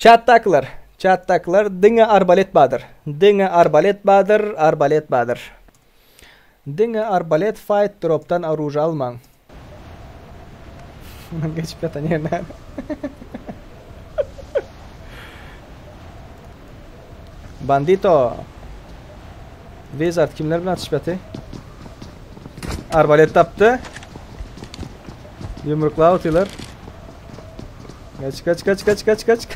Çatdakylar, çatdakylar, diňe arbalet badyr, diňe arbalet badyr, arbalet badyr. Diňe arbalet fight dropdan oruža almaň. Munuň geçip ýatan ýeri näme? Bandito. Wizard kimler bilen atyşyp ýaty? Arbalet tapdy. Yumruklap atýarlar. Kaç kaç kaç kaç kaç kaç.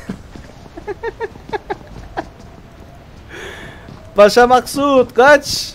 Başa Maksut kaç.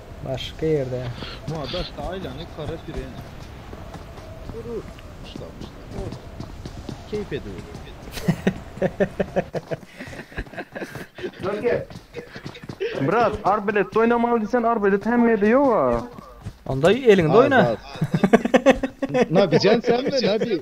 Başga ýerde. Muňa daşda aýlany kara süren. Gürür. Myşlar myşlar. Oh. Keýp ediweri. Brat, arbelet oýnamaly diýsen arbelet hemmede ýoga. Onda eliňde oýna. Na bijan sen mi? Na bi?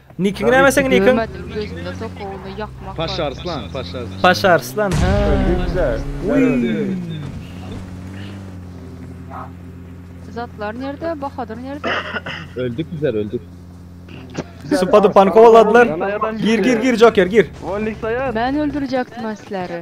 Nikiňi näme seň nikiň? Görmedim gözümde sokowuny ýakmak bar. Paşa Arslan, Paşa Arslan. Paşa Arslan, ha. Zatlar nerde, Bahadyr nerde? Öldük bizler öldük. Supady pankowaladylar. Gir gir gir Joker gir. Wolnik saýar. Men öldürjekdim sizleri.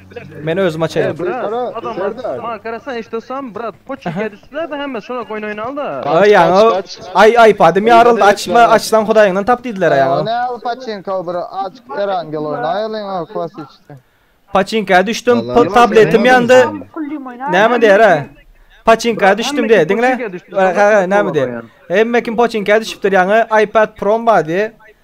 Men özüm açaýyn. Aý ýaňa aý aýpadym ýaryldy açma açsaň hudaýyňdan tap diýdiler aý ýaňa. Paçinka düşdüm pul tabletim ýandy näme diýerä paçinka düşdüm diýä diňle näme diýä hemme kim paçinka düşüpdir ýaňa aýpad prom bar diýä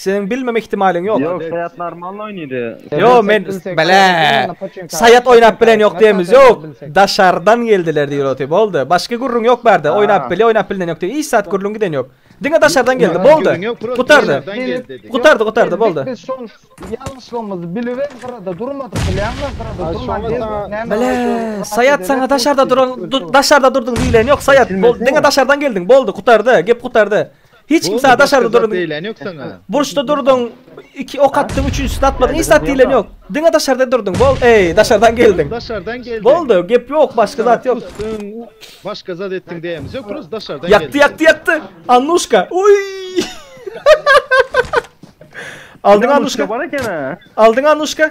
Seniň bilmeme ihtimalyň ýok. Ýok Saýat normalny oýnady. Ýo men bele Saýat oýnap bilen ýok diýemiz ýok daşardan geldiler diýil oty boldy başga gürrüň ýok bärde oýnap bilýä oýnap bilinen ýok diýip hiç zat gürrüň giden ýok diňe daşardan geldi boldy gutardy gutardy gutardy boldy. Biz şol ýalňyşlygymyzy bilibem gyrada durmadyk bilýäňmi gyrada durman diýen Bele Saýat saňa daşarda duran daşarda durdyň diýilen ýok Saýat diňe daşardan geldiň boldy gutardy gep gutardy. Hiç kim sana daşarda durun diýlen ýok saňa. Burçda durduň, iki ok atdyň, üçünjisini atmadyň, hiç zat diýlen ýok. Diňe daşarda durduň. Bol, eý, daşardan geldiň. Daşardan geldiň. Boldy, gep ýok, başga zat ýok. Pusdyň, başga zat etdiň diýemmiz ýok, prosta daşardan geldiň. Ýakdy, ýakdy, ýakdy. Annuşka. Oý! Aldyň Annuşka. Aldyň Annuşka.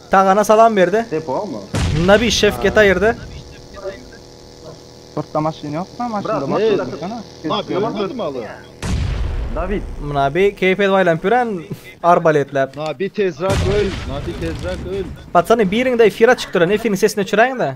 Tagana salam berde. Nabi şef geta ýerde. Syrtda maşyn ýokmy maşynda maşyn dursana. Nabi ýalan sözüm aly. David. Nabi keýp edip aýlanyp ýören arbaletläp. Nabi tezrak öl nabi tezrak öl. Patany biriňde efira çykdyra nefini sesini öçüräýiňdä.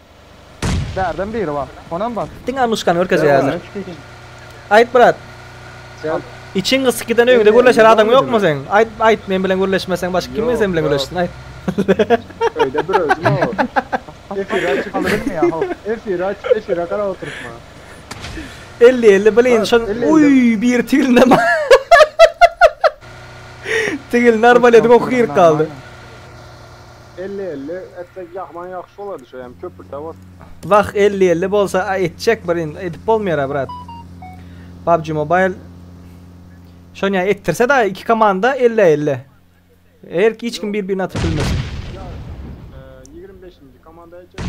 Bärden biri bar. Onam bar. Diňe alnyşkany görkezýärler. Aýt brat. Içiň gyssyk giden öýüňde gürleşer adam ýokmy seň? Aýt aýt men bilen gürleşmeseň başga kim sen bilen gürleşsin aýt. Öýde bir özüm ow. Efir aç. Efir aç efire garap oturtma. Elli elli bilin şo uý biri tigilne bar. Tigilne arbalediň oky girip galdy. Elli elli etsek jahman ýagşy bolardy şo ýam köpürte bolsa. Wah elli elli bolsa a etjek bir in edip bolmaýar a brat pubg mobile şony ýa etdirse da iki komanda elli a elli erki hiç kim bir birini atyp bilmesin. Ýa ýigrimi beşinji komanda etjek.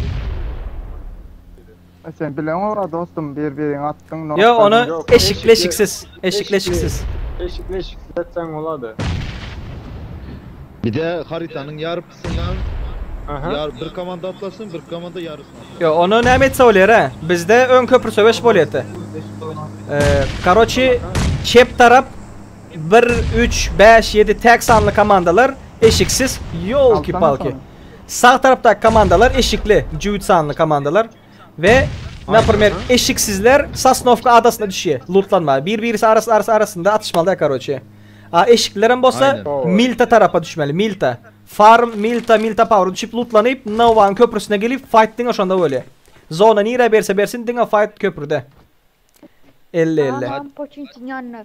E sen bilen ora dostum bir birin atdyň nok Ýok ony berdiň. eşikli eşiksiz. Eşikli eşiksiz. Eşikli eşiksiz etseň bolady. Bize haritanyň ýarpysyndan Aha. ýar bir komanda atlasyn, bir komanda ýarysyny atlasyn. Ýok ony näme etse bolýar a? Bizde öň köpri söweş bolýardy. Karoçi çep tarap bir üç bäş ýedi täk sanly komandalar eşiksiz ýolki Alsana palki. şony. Sag tarapdaky komandalar eşikli, jübüt sanly komandalar we naprimer eşiksizler Sosnowka adasyna düşýär lutlanmaga. Bir birisi arasy arasy arasynda atyşmalyda karoçe. A eşiklilerem bolsa Milta tarapa düşmeli Milta. Farm Milta Milta Power düşip lutlanyp Nowanyň köprüsine gelip fight diňe şonda bolýar. Zona nirä berse bersin diňe fight köprüde. Elli elli. Salam Poçinkin ýanyna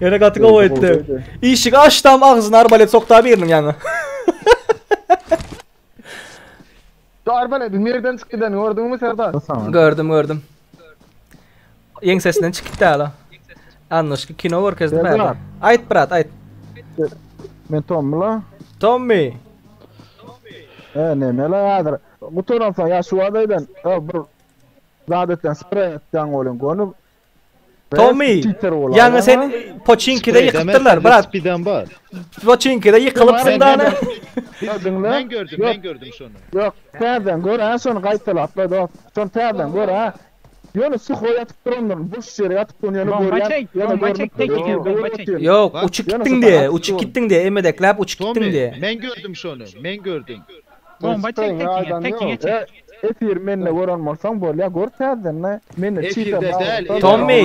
Ýöne gaty gowy aýtdy. Işik açdam agzyna arbalet sokda biriniň ýaňa. Şu arbaletiň nereden çykyp gidenini gördüňmi Serdar? Gördüm gördüm. Ýeňsesinden çykyp däl o. Annoşka kino görkezdi Serdar. bäri. Aýt brat aýt. Men Tommula. Tommy. E, neme la häzir? Gutaran soň ýa şu wada eden, e, bir zat etden, sprey etden bolýan gönüp, Tommy, ýaňy sen Poçinkide ýykypdyrlar, brat. Spidan bar. Poçinkide ýykylypsyň dana. Men gördüm, men gördüm şony. Ýok, täzeden gör, ha, şony gaýtalap, dost. Şony täzeden gör, ha. Ýöne suho ýatyp durandyr, boş ýere ýatyp duran ýöne görýän. Ýöne görmüpdir. Ýok, uçup gitdiň diýe, uçup gitdiň diýe, emmedekläp uçup gitdiň diýe. Men gördüm şony, men gördüm. Bomba çek sekiňe sekiňe çek. Efir mende gören bolsaň bolýa gör täzedende mende çiper baglyda. Tommy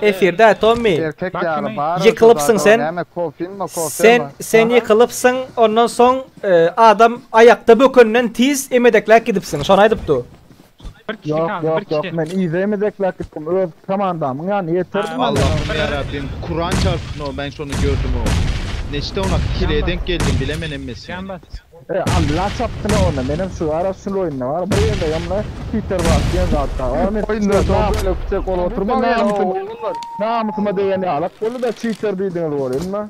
efirde Tommy. Ýykylypsyň sen sen sen ýykylypsyň ondan soň adam aýakda bökenden tiz emedekläp gidipsiň şony aýdypdy. Bir kişi Yok kaldı, bir yok yok kişi. men izemi zeklap gittim öz komandamyň ýanyna ýetirdim Ha, menden Allahym Bana- ýarabbim Kuran çalsyn o men şony gördüm o. Neçde ona kile Yanma. denk geldim bilemen emmesi. Can bas. E Allah çapsyn onda menem şu ara şul oýunda bar bir ýerde ýomla Peter bar diýen zat bar. Ony Oýunda şol şol nam- bölek çek olup oturma men o. namysyma degen ýalak boldy da çiter diýdiňiz bolýa onda.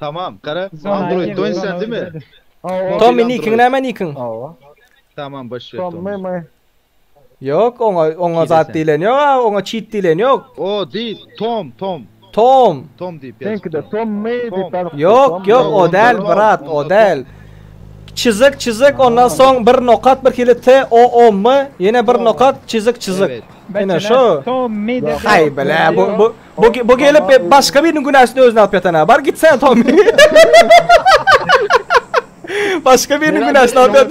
Tamam gara Android doýun sen dimi? Tommy nikiň näme nikiň? Tamam boş ýer Tommy. Ýok oňa oňa zat diýlen ýok a oňa çit diýlen ýok. O diýil Tom Tom. Tom. Tom diýip ýaz. Seňkide Tommy diýip ýaz. Ýok ýok o däl brat o däl. Çizik çizik ondan soň bir nokat bir hili t o o m ýene bir nokat çizik çizik. Ene şo. Tommy. Haý bile bu bu. Bu bu gelip e, başga biriniň günäsini özüne alyp ýatan ha. Bar gitsen Tom. başga biriniň günäsini alyp ýat.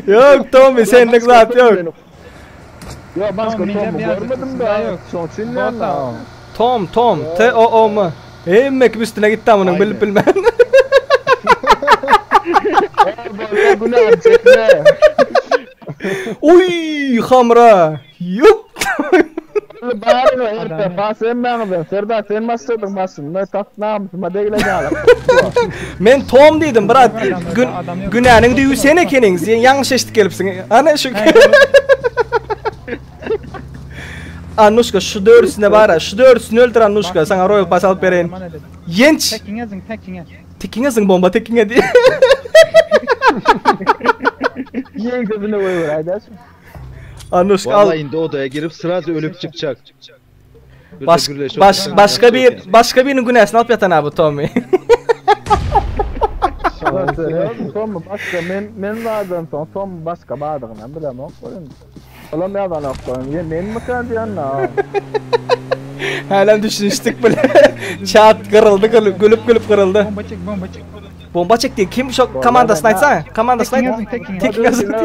Yok Tom senlik zat yok. Ya başka Tom, Tom görmedim daha yok. Son çinleyen daha. Tom Tom T O O M. Hemme kim üstüne gitti amına bilip bilmem. Günah çekme. Uy hamra. Ýup! Ýöne baryň o erkek has hemmäňizden Serdar sen başladyň başynda tas namysyma degile galak Tuwa. Men Tom diýdim brat gün günäniň düýbi sen ekeniň sen ýalňyş eşidip gelipsiň hany şu Annuşka şu dördüsine bara şu dördüsini öldür Annuşka saňa roýal pas alyp bereýin ýenç Tekiňe zyň tekiňe. Tekiňe zyň bomba tekiňe diýip. Ýeň sözüne goýber aýdaşym. Anuş al. Walla indi odaya girip sraz ölüp çykjak. Baş, baş, başka bir başka birinin günäsini alyp yatan abi Tommy. Tom mu başka men men vardan son Tom mu başka bardygyny bilem ok koyun. Olam yazan ok koyun. Ye men mi kan diyen na. Hälem düşünişdik bile. Çat kırıldı gülüp gülüp kırıldı. Bomba çek bomba çek. Bomba çekdi. Kim şu komandasyny aýtsa? Komandasyny aýt. Tekin ýazdy.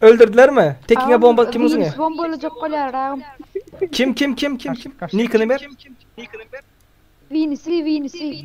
Öldürdilermi? Tekiňe bomba kim uzuňa? Bomba olacak bolýar agam. Kim kim kim kim kim? Nikini ber. Vinisi vinisi.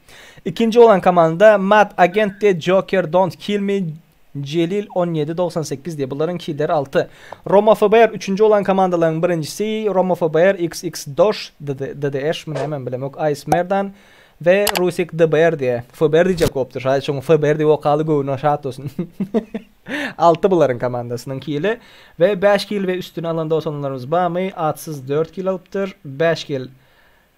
Ikinji bolan komanda Mad Agent de Joker Don't Kill Me Jelil on ýedi dogsan sekiz diýe bularyň kider alty. Roma FBR üçünji bolan komandalaryň birinjisi Roma FBR xx Dosh DDEsh mi nämemi bilemok Ice Merdan we Rusik DBR diýe FBR diýjek bolupdyr şaýy şoň FBR diýip okaly göwni şat bolsun alty bularyň komandasynyň kili we bäş kil we üstüni alan doganlarymyz barmy Atsyz dört kil alypdyr bäş kil